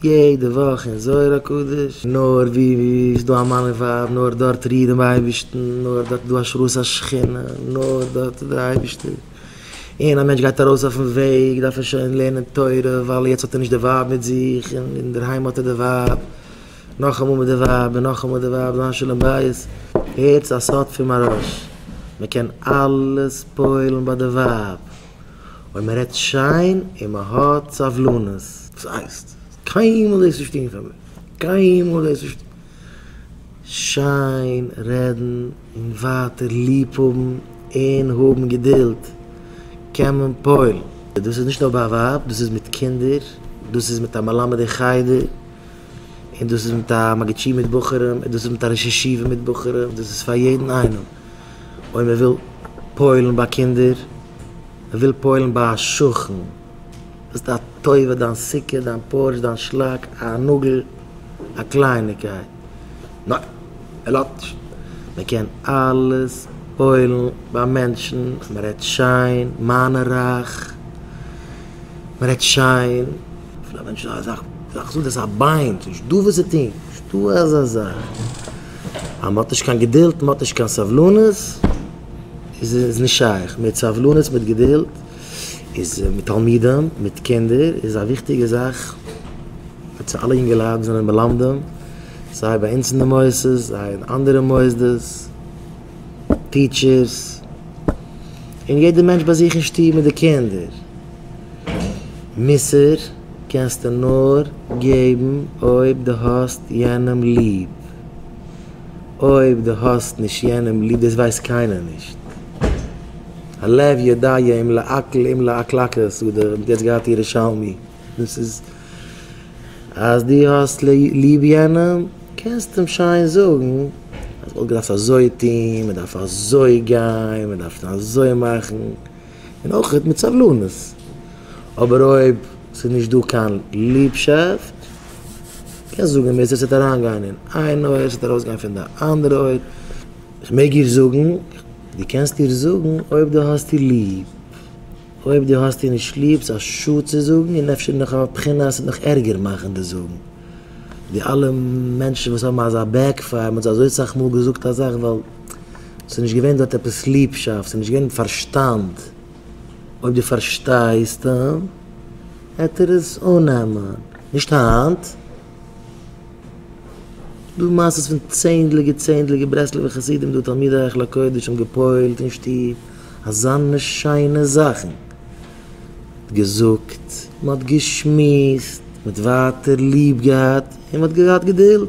יעדע וואך אין זוהר הקדוש, נאר ווי איז דא א מאן און ווייב, נאר דארט ריעט דעם אייבערשטן, נאר דארט איז דא השראת השכינה, נאר דארט איז דער אייבערשטער, און א מענטש גייט ארויס אויפן וועג דארף ער שוין לערנען תורה, ווייל יעצט האט ער נישט די ווייב מיט זיך, און אינדערהיים האט ער די ווייב, נאכאמאל מיט די ווייב, און נאכאמאל די ווייב, זיין שלום בית, הערטס א סוד פון מהרש, מען קען אלעס פועל'ן ביי די ווייב. אויב מען רעדט שיין און מען האט סבלנות. וואס הייסט? קיינמאל דאס נישט טון פאר מיר, קיינמאל דאס נישט טון. שיין רעדן און ווייטער ליב האבן און האבן געדולד, קען מען פועל'ן. דאס איז נישט נאר ביי א ווייב, דאס איז מיט קינדער, דאס איז מיט א מלמד אין חדר, און דאס איז מיט א מגיד שיעור מיט בחורים, און דאס איז מיט א ראש ישיבה מיט בחורים, דאס איז פאר יעדן איינעם. אויב מען וויל פועל'ן ביי קינדער, מען וויל פועל'ן ביי א שכן, ביסט א טובה, דיין סוכה, דיין פארטש, דיין שלאק, א נאגל, א קלייניקייט, ניין, ער לאזט נישט, מען קען אלעס פועל'ן ביי מענטשן, מען רעדט שיין, מיינע רייך, מען רעדט שיין. פון א מענטש איז אזא זאך זאגט עס א ביין ס'איז נישט דא וואס צו טון נישט דא אזא זאך אז מ'האט נישט קיין געדולד מ'האט נישט קיין סבלנות איז עס נישט שייך מיט סבלנות מיט געדולד איז מיט תלמידים מיט קינדער איז א וויכטיגע זאך מיט צו אלע אינגעלייט וואס זענען מלמדים סיי ביי אונז אין די מוסדות סיי אין אנדערע מוסדות טיטשערס און יעדע מענטש ביי זיך אין שטוב מיט די קינדער. מוסר קענסטו נאר געבן אויב דו האסט יענעם ליב. אויב דו האסט נישט יענעם ליב, דאס ווייסט קיינער נישט. הלב יודע אם לעקל אם לעקלקל האט יעצט געהאט ירושלמי. דאס איז אז דו האסט ליב יענעם קענסטו אים שיין זאגן אז מ'וואלט געדארפט אזוי טון, מ'דארף אזוי גיין, מ'דארף אזוי מאכן. און אויך מיט סבלנות, אבער אויב ס'איז נישט דא קיין ליבשאפט, קענסט זאגן ווער ס'עט אריינגיין אין איין אויער ס'עט ארויסגיין פון די אנדערע אויער, כ'מעג איר זאגן? דו קענסט איר זאגן אויב דו האסט איר ליב, אויב דו האסט איר נישט ליב ס'איז א שאד צו זאגן און אפשר נאך א בחינה ס'וועט נאך ערגער מאכן די זאגן, די אלע מענטשן וואס האבן אזא בעק פייער מ'האט זיי אזוי סאך מאל געזאגט א זאך ווייל. ס'איז נישט געווען דארט עפעס ליבשאפט, ס'איז נישט געווען פארשטאנד. אויב דו פארשטייסט אים, העט ער עס אננעמען. נישט היינט. דא מעשות פון צענדליגע צענדליגע ברסלב'ע חסידים דא תלמידי היכל הקודש האבן גע'פועל'ט אין שטוב אזאנע שיינע זאכן. געזאגט, מ'האט געשמועסט, מ'האט ווייטער ליב געהאט און מ'האט געהאט געדולד.